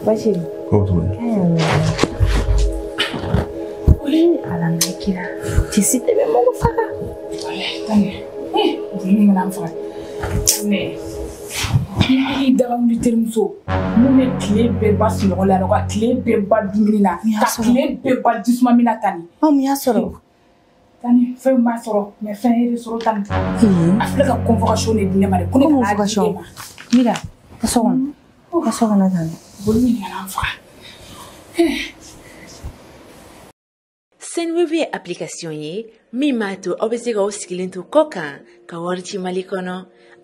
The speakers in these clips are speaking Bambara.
Bashiri. Ko to. Wa ni Ala n'a kira. Ki si tebe mu ku faka. Tane. Eh, ni mu nan faka. Ne. Ni da mu terimuso. Min bɛ tile bɛɛ ban sunɔgɔ la ka tile bɛɛ ban dumuni na. Ka tile bɛɛ ban jisuma min na tani. A mun y'a sɔrɔ. fɛn m'a sɔrɔ mɛ fɛn ye sɔrɔ tan a filɛ ka convocation de di ne ma de ko ne kana di e ma mira ka so kɔnɔ ko ka so kɔnɔ tan boli min kana n faga Sendwave ye application ye min b'a to aw bɛ se k'aw sigilen to kɔ kan ka wari ci Mali kɔnɔ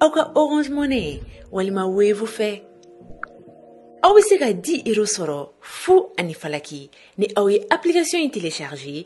aw ka Orange Money walima Wave fɛ aw bɛ se ka 10 euros sɔrɔ fu ani falaki ni aw ye application in télécharger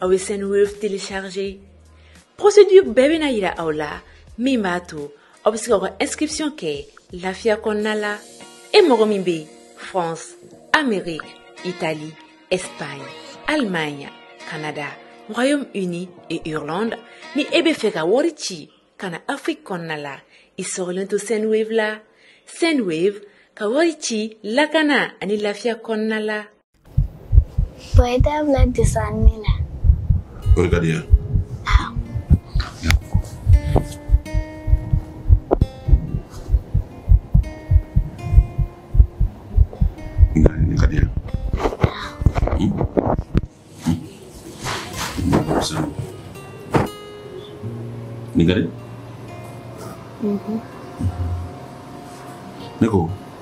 aw ye sendwave télécharger procédure bɛɛ bɛna yira aw la min b'a to aw bɛ se ka aw ka inscription kɛ lafiya kɔnɔna la e mɔgɔ min bɛ france amérique italie espagne allemagne canada royaume uni et irlande ni e bɛ fɛ ka wari ci ka na afrique kɔnɔna la i sɔrɔlen to sendwave la sendwave ka wari ci lakana ani lafiya kɔnɔna la Bɔn i t'a bila desan min na o ka di yan Nin ka di? Unhun. Ne ko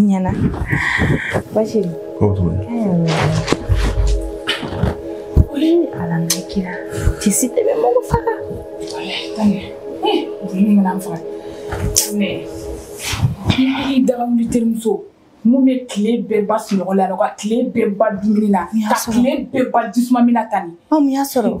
Ɲɛna. Bashiri. Ko to. Ni Ala n'a kira. Ti si tebe mo ko faka. Tani. Eh, ni ngana faka. Ne. Ni da mu terimuso. Min bɛ tile bɛɛ ban sunɔgɔ la ka tile bɛɛ ban dumuni na ka tile bɛɛ ban jisuma min na tan ni. Mun y'a sɔrɔ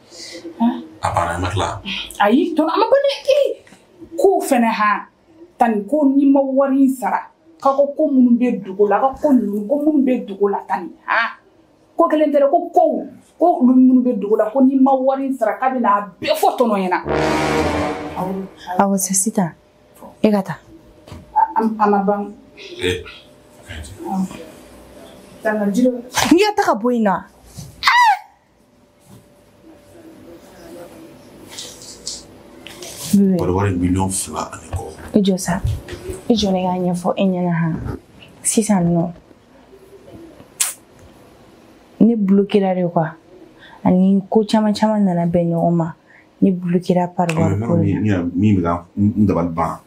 A banna ma tila ayi tɔ ma ban ne ko fana h tan ko ni ma wari in sara ka ko ko minnu bɛ dugu la ka ko ko minnu bɛ dugu la tan ni h ko kelen tɛ ko ko ko olu minnu bɛ dugu la ko ni ma wari in sara k'a bɛna a bɛɛ fɔ tɔnɔ ɲɛna awɔ sisan e ka taa a ma ban n y'a ta ka bɔ i na Pariwari miliyɔn fila ani kɔ. I jɔ sa i jɔ ne k'a ɲɛfɔ e ɲɛna han sisan nɔ ne blokera de quoi ani ko caman caman nana bɛn ɲɔgɔn ma ne blokera pariwari ko la. Min bɛ ka n dabali ban.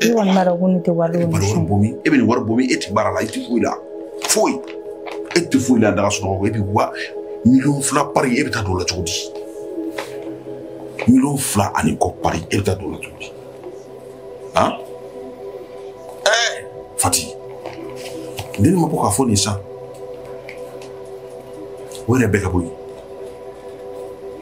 Ne kɔni b'a dɔn ko ne tɛ wari dɔn. Balo wari bɔ min e bɛ nin wari bɔ min e tɛ baara la i tɛ foyi la foyi e tɛ foyi la da ka sunɔgɔ e bɛ wa miliyɔn fila pari e bɛ taa don o la cogo di miliyɔn fila ani kɔ pari e bɛ taa don o la cogo di han ɛɛ Fati ne ni ma bɔ k'a fɔ nin san o yɛrɛ bɛɛ ka bɔ yen.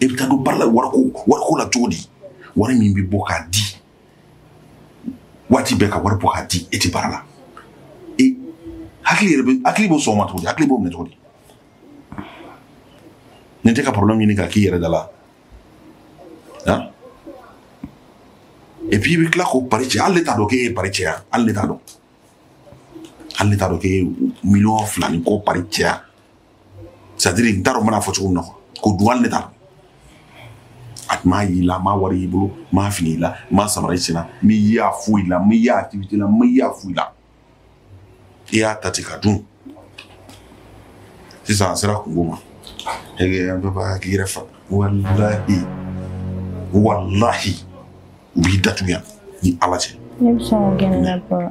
e bɛ taa don baara la wariko wariko la cogo di wari min bɛ bɔ k'a di waati bɛɛ ka wari bɔ k'a di e tɛ baara la e hakili yɛrɛ bɛ hakili b'o sɔn o ma cogo di hakili b'o minɛ cogo di nin tɛ ka problème ɲini k'a k'i yɛrɛ da la han et puis i bɛ tila k'o pari cɛ hali ne t'a dɔn k'e ye pari cɛ yan hali ne t'a dɔn hali ne t'a dɔn k'e ye miliyɔn fila ni kɔ pari cɛ yan c'est-à-dire n t'a dɔn n bɛna fɔ cogo min na k'o dun hali ne t'a dɔn a tun m'a y'i la m'a wari y'i bolo m'a fini i la m'a samara i sen na m'i ye a foyi la m'i ye a activité la m'i ye a foyi la i y'a ta ten ka dun sisan a sera kunko ma an bɛɛ b'a k'i yɛrɛ faga walahi walahi u b'i datugu yan ni ala cɛ ne bɛ sɔn k'o gɛn ne la bɔrɔ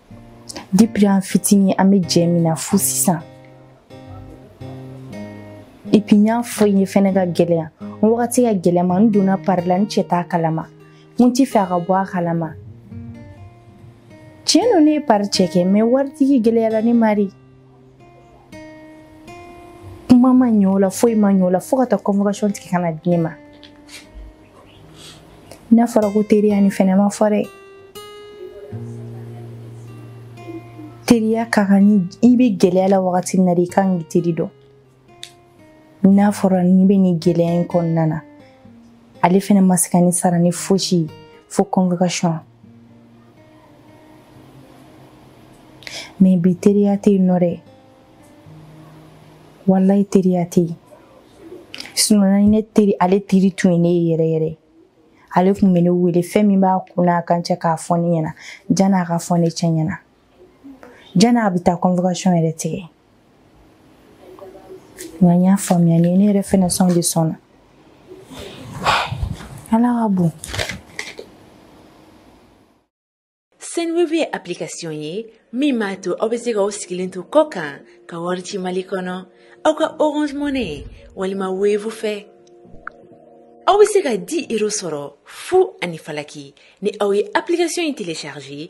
depuis an fitinin an bɛ jɛ min na fo sisan et puis n y'a fɔ i ye fɛnɛ ka gɛlɛya n wagati ka gɛlɛn n ma n donna pari la n cɛ t'a kalama n t'i fɛ a ka bɔ a kalama tiɲɛ don ne ye pari cɛ kɛ mais waritigi gɛlɛyara ne ma dɛ kuma ma ɲɛ o la foyi ma ɲɛ o la fo ka taa convocation tigɛ ka na di ne ma n'a fɔra ko teriya ni fɛnɛ ma fɔ dɛ teriya ka kan ni i bɛ gɛlɛya la wagati min na de i kan k'i teri dɔn n'a fɔra ne bɛ nin gɛlɛya in kɔnɔna na ale fɛnɛ ma se ka ne sara ni fosi ye fo convocation mais bi teriya tɛ yen nɔ dɛ walayi teriya tɛ yen sinon ne teri ale teri tun ye ne ye yɛrɛ yɛrɛ ale tun bɛ ne wele fɛn min b'a kun n'a kan cɛ k'a fɔ ne ɲɛna jan'a ka fɔ ne cɛ ɲɛna jan'a bɛ taa convocation yɛrɛ tigɛ nka n y'a faamuya ni ne yɛrɛ fɛnɛ sɔn de sɔnna ala ka bon Sendwave ye application ye min b'a to aw bɛ se ka aw sigilen to kɔ kan ka wari ci Mali kɔnɔ aw ka Orange Money walima Wave fɛ aw bɛ se ka 10 euros sɔrɔ fu ani falaki ni aw ye application in télécharger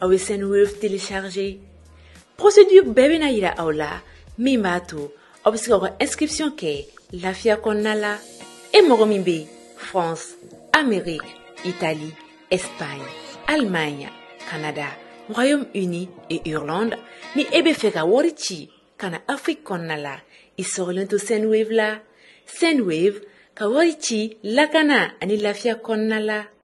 aw bɛ sendwave télécharger procédure bɛɛ bɛna yira aw la min b'a to aw bɛ se ka aw ka inscription kɛ lafiya kɔnɔna la e mɔgɔ min bɛ france amérique italie espagne allemagne canada royaume uni et irlande ni e bɛ fɛ ka wari ci ka na afrique kɔnɔna la i sɔgɔlen to sendwave la sendwave ka wari ci lakana ani lafiya kɔnɔna la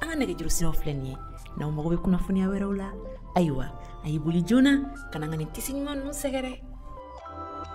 an ka nɛgɛjuru siraw filɛ nin ye n'aw mago bɛ kunnafoniya wɛrɛw la ayiwa a y'i boli joona ka na an ka nin tissu ɲuman ninnu sɛgɛrɛ